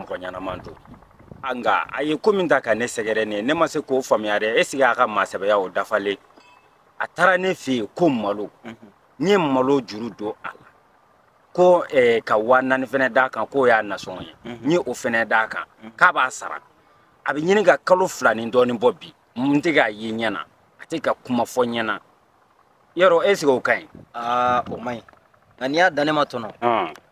mɔgɔ ɲɛnaman don nka a ye ko min ta ka ne sɛgɛrɛ ne ye ne ma se k'o faamuya dɛ esike a ka maasɛbɛya o dafalen a taara ne fɛ yen ko malo mhm. n ye malo juru don a la ko eh, ka waa naani fɛnɛ d'a kan k'o y'a nasɔngɔ ye mhm. n ye o fɛnɛ d'a kan mhm. k'a b'a sara a bɛ ɲini ka kalo fila ni dɔɔnin bɔ bi n tɛ k'a ye ɲɛ na a tɛ ka kuma fɔ ɲɛ na yɔrɔ esike o ka ɲi aa o man ɲi nka n'i y'a dan ne ma tɔnɔ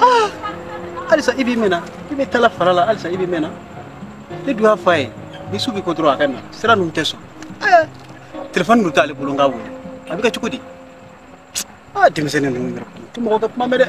Ah! alisa i bɛ mɛn na i bɛ tala fara la alisa i bɛ mɛn na ne dun y'a fɔ a ye ni su bɛ ko dɔrɔn a ka na sira ninnu tɛ sɔn eh, telefɔni dun t'ale bolo n k'a wele a bɛ kɛ cogo di aa ah, denmisɛnnin ninnu yɛrɛ tɛ mɔgɔ ka kuma mɛn dɛ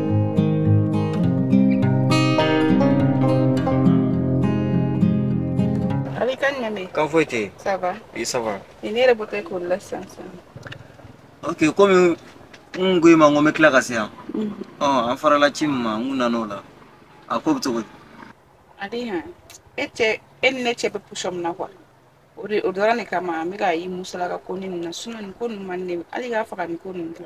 Ali kan ɲamɛ kan foyi tɛ yen ça va oui ça va nin ne yɛrɛ bɔtɔ ye k'o la sisan sisan ok komi n kun ko i ma n ko n bɛ tila ka se yan ɔ an farala ci min ma n kun nana o la a ko bɛ cogo di ale yan e cɛ e ni ne cɛ bɛ position min na quoi o de o dɔrɔn de kama n bɛ ka i musalaka ko ni nin na sinon nin ko ninnu man di ne ye hali k'a faga nin ko ninnu tɛ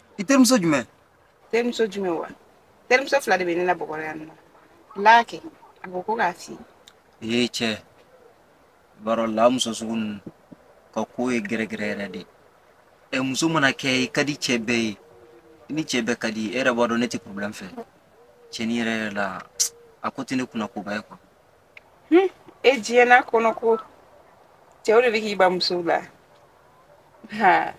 i terimuso jumɛn terimuso jumɛn wa terimuso fila de bɛ ne la bɔgɔrɔ yan nɔ laaki a ko ko k'a f'i ye ee cɛ i b'a dɔn la muso sugu ninnu ka ko ye gɛrɛgɛrɛ yɛrɛ de ye muso mana kɛ i ka di cɛ bɛɛ ye i ni cɛ bɛɛ ka di e yɛrɛ b'a dɔn ne tɛ problème fɛ cɛn yɛrɛ yɛrɛ la a ko tɛ ne kunna koba ye quoi Hmm, e diɲɛ n'a kɔnɔ ko cɛw de bɛ k'i ban musow la ha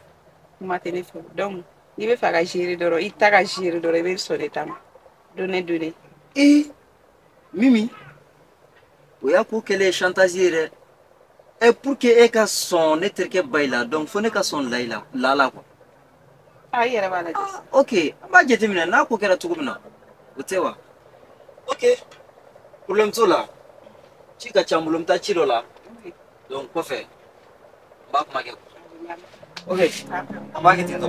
kuma tɛ ne fɛ donc n'i b'a fɛ a ka gérer dɔrɔn i ta ka gérer dɔrɔn i bɛ sɔn ne ta ma donner donner ee mimi o y'a ko kɛlen ye chantage ye dɛ ɛ pour que e ka sɔn ne terikɛ bayi la donc fo ne ka sɔn layi la lala quoi a yɛrɛ b'a lajɛ ah, ok n b'a jateminɛ n'a ko kɛra cogo min na o tɛ wa ok problème t'o la ci ka ca n bolo n bɛ taa ci dɔ la donc kɔfɛ n b'a kuma kɛ ok an b'a kɛ ten tɔ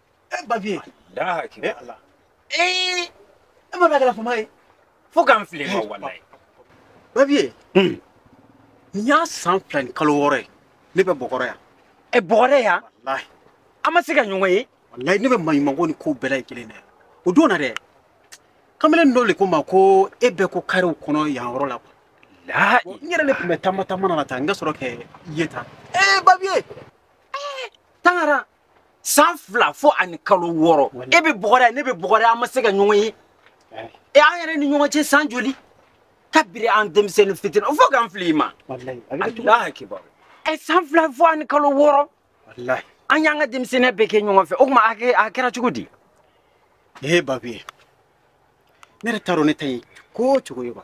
e babiye ee e ma a kɛla fama ye fo ka n fili i ma walayi babiye nin y'a san fila ni kalo wɔɔrɔ ye ne bɛ bɔgɔrɔ yan ɛ bɔgɔrɔ yan an ma se ka ɲɔgɔn ye walayi ne bɛ maɲumanko ni ko bɛɛ la ye kelen dɛ o don na dɛ kamalen dɔ de ko n ma ko e bɛ ko kariw kɔnɔ yan yɔrɔ la quoi walayi n yɛrɛ de tun bɛ taama taama na la tan n ka sɔrɔ k'e ye tan ee babiye ee tangara san fila fo ani kalo wɔɔrɔ e bɛ bɔgɔda ne bɛ bɔgɔda an ma se ka ɲɔgɔn ye e an yɛrɛ ni ɲɔgɔn cɛ san joli kabiri an denmisɛnnin fitini o fo k'an fili i ma alahu akibaru ɛ san fila fo ani kalo wɔɔrɔ an y'an ka denmisɛnninya bɛɛ kɛ ɲɔgɔn fɛ o tuma a kɛra cogo di ee babi ne yɛrɛ t'a dɔn ne ta ye ko o cogo ye wa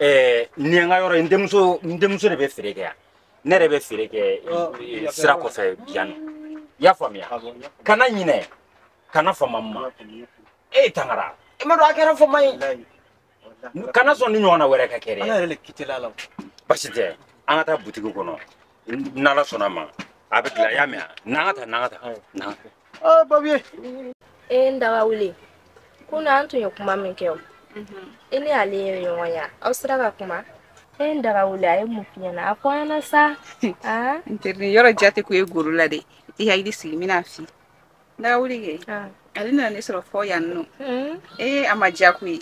ɛɛ nin ye n ka yɔrɔ ye n denmuso n denmuso de bɛ feere kɛ yan ne yɛrɛ bɛ feere kɛ sira kɔfɛ yan nɔ i y'a faamuya kana ɲinɛ kana fama n ma e tangara i m'a dɔn a kɛra fama ye Walayi. Walayi. kana sɔn ni ɲɔgɔnna wɛrɛ ka kɛ dɛ Ala yɛrɛ de kitela la o. basi tɛ an ka taa butigi kɔnɔ n'ala sɔnna ma a bɛ dilan i y'a mɛn a n'an ka taa n'an ka taa n'an ka taa. babiye. e n daga wuli kunna an tun ye kuma min kɛ o i ni ale ye ɲɔgɔn ye aw sera ka kuma. e n daga wuli a ye mun f'i ɲɛna a fɔ an ɲɛna sa. n tɛ nin yɔrɔ jate ko ye goro la dɛ i hakili sigi n bɛna a f'i. daga wuli kɛ ale nana ne sɔrɔ fo yan nɔ ee a ma diya koyi.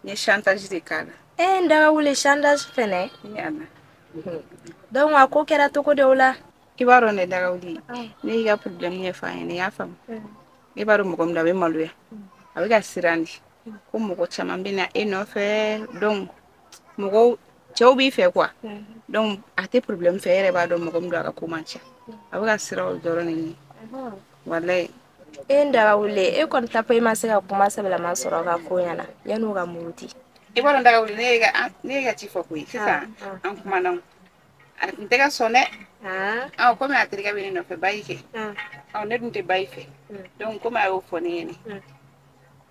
n ye chantage de k'a la e n daga wuli chantage fɛnɛ yana donc a ko kɛra cogo di o la i b'a dɔn ne daga wuli ne y'i ka problème ɲɛfɔ a ɲɛna i y'a faamu e b'a dɔn mɔgɔ min don a bɛ maloya a bɛ ka siran de ko mɔgɔ caman bɛ na e nɔfɛ donc mɔgɔw cɛw b'i fɛ quoi donc a tɛ problème fɛ e yɛrɛ b'a dɔn mɔgɔ min don a ka ko man ca a bɛ ka siran o dɔrɔn de ɲɛ walayi e n daga wuli e kɔni tapo i ma se ka kuma sɛbɛlama sɔrɔ k'a fɔ a ɲɛna yanni u ka muruti i b'a dɔn daga wuli ne y'i ka ci fɔ koyi sisan an kumana a tun tɛ ka sɔn dɛ ɔ komi a terikɛ bɛ ne nɔfɛ bayi kɛ ɔ ne dun tɛ bayi fɛ donc komi a y'o fɔ ne ɲɛna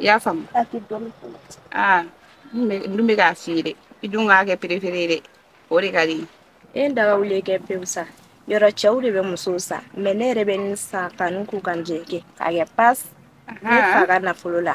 i y'a faamu aa n dun bɛ k'a f'i ye dɛ i dun k'a kɛ préféré ye dɛ o de ka di n ye n daga wuli kɛ pewu sa yɔrɔ cɛw de bɛ musow san mais ne yɛrɛ bɛ nin san ka n k'u ka n jɛ kɛ k'a kɛ pas ne fa ka nafolo la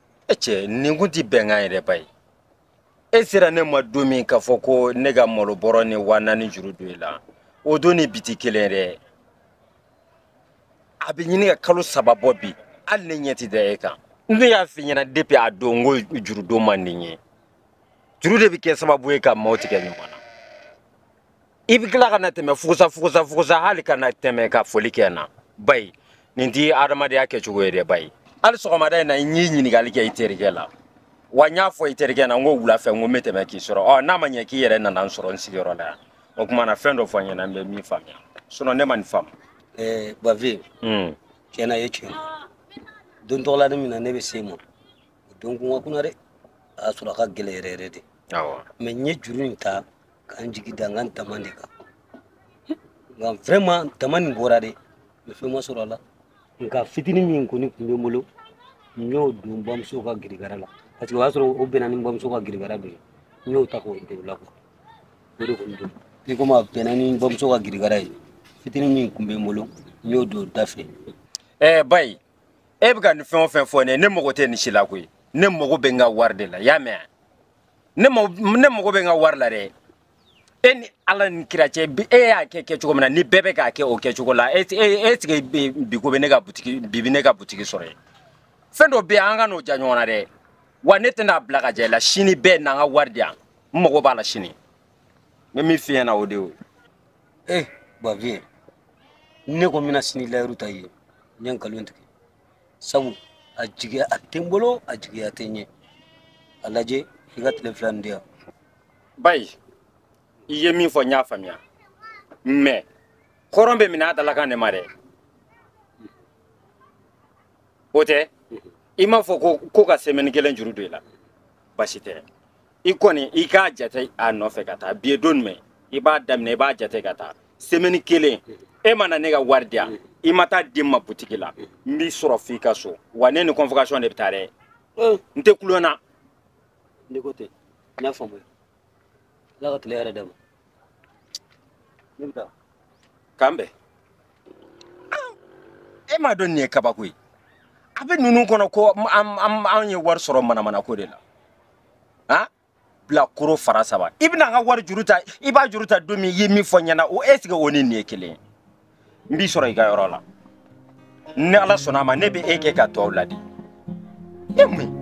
e cɛ nin kun tɛ bɛnkan ye dɛ bayi e sera ne ma don min k'a fɔ ko ne ka malo bɔrɔ ni waa naani juru don i la o don ni bi tɛ kelen dɛ a bɛ ɲini ka kalo saba bɔ bi hali ne ɲɛ tɛ da e kan ne y'a f'i ɲɛna depi a don ko jurudon man di n ye juru de bɛ kɛ sababu ye ka maaw tigɛ ɲɔgɔn na i bɛ tila ka na tɛmɛ fugusa fugusa fugusa hali ka na tɛmɛ ka foli kɛ n na bayi nin tɛ adamadenya kɛcogo ye dɛ bayi hali sɔgɔmada in na n y'i ɲininkali kɛ i terikɛ la wa n y'a fɔ i terikɛ na n ko wula fɛ n ko n bɛ tɛmɛ k'i sɔrɔ ɔ n'a ma ɲɛ k'i yɛrɛ nana n sɔrɔ n sigiyɔrɔ la yan o tuma na fɛn dɔ fɔ n ɲɛna n bɛ min faamuya sinɔn ne ma nin faamu. ɛɛ bafe tiɲɛ na i ye tiɲɛ ye don tɔgɔla ni min na ne bɛ se i ma o don kun ka kunan dɛ a y'a sɔrɔ a ka gɛlɛn yɛrɛ yɛrɛ de mɛ n ye juru in ta ka n jigi da n ka n tama de kan nka vraiment tama nin bɔra dɛ mais fɛn ma sɔrɔ a la nka fitini min kɔni tun bɛ n bolo n y'o don n bamuso ka girigara la parce que o y'a sɔrɔ o bɛnna ni n bamuso ka girigara bɛ yen n y'o ta k'o don o la quoi o de kɔni don i komi a bɛnna ni n bamuso ka girigara ye fitini min tun bɛ n bolo n y'o don da fɛ ɛɛ bayi e bɛ ka nin fɛn o fɛn fɔ ne ye ne mago tɛ nin si la koyi ne mago bɛ n ka wari de la i y'a mɛn wa ne mago bɛ n ka wari la dɛ e ni ala ni kira cɛ e y'a kɛ kɛcogo min na ni bɛɛ bɛ k'a kɛ o kɛcogo la e e sigi bi ko bɛ ne ka butigi sɔrɔ yen fɛn dɔ bɛ yen an kan'o ja ɲɔgɔn na dɛ wa ne tɛna bila ka ja i la sini i bɛna n ka wari di yan n mago b'a la sini n bɛ min f'i ɲɛna o de y'o ye. ee babiɲɛ ne ko n bɛna sini layiru ta i ye n ye nkalon tigɛ. sabu a jigiya a tɛ n bolo a jigiya tɛ n ye a lajɛ i ka tile fila nin di yan bayi i ye min fɔ n y'a faamuya mais hɔrɔn bɛ minɛ a dalakan de ma dɛ o tɛ i m'a fɔ ko ka semaine kelen juru don i la basi tɛ i kɔni i k'a jate a nɔfɛ ka taa bi ye don jumɛn i b'a daminɛ i b'a jate ka taa semaine kelen e ma na ne ka wari di yan i ma taa di n ma butigi la n b'i sɔrɔ f'i ka so wa ne ni convocation de bɛ taa dɛ n tɛ tulon na ne ko ten n y'a faamuya ala ka tile hɛrɛ d'an ma k'an bɛn e m'a dɔn nin ye kabako ye a bɛ ninnu kɔnɔ ko an ye wari sɔrɔ manamana ko de la han bilakoro fara saba i bɛna an ka wari juru ta i b'a juru ta don min i ye min fɔ n ɲɛna o est ce que o ni nin ye kelen ye n b'i sɔrɔ i ka yɔrɔ la ni ala sɔnna a ma ne bɛ e kɛ ka tɔw ladi e mun ye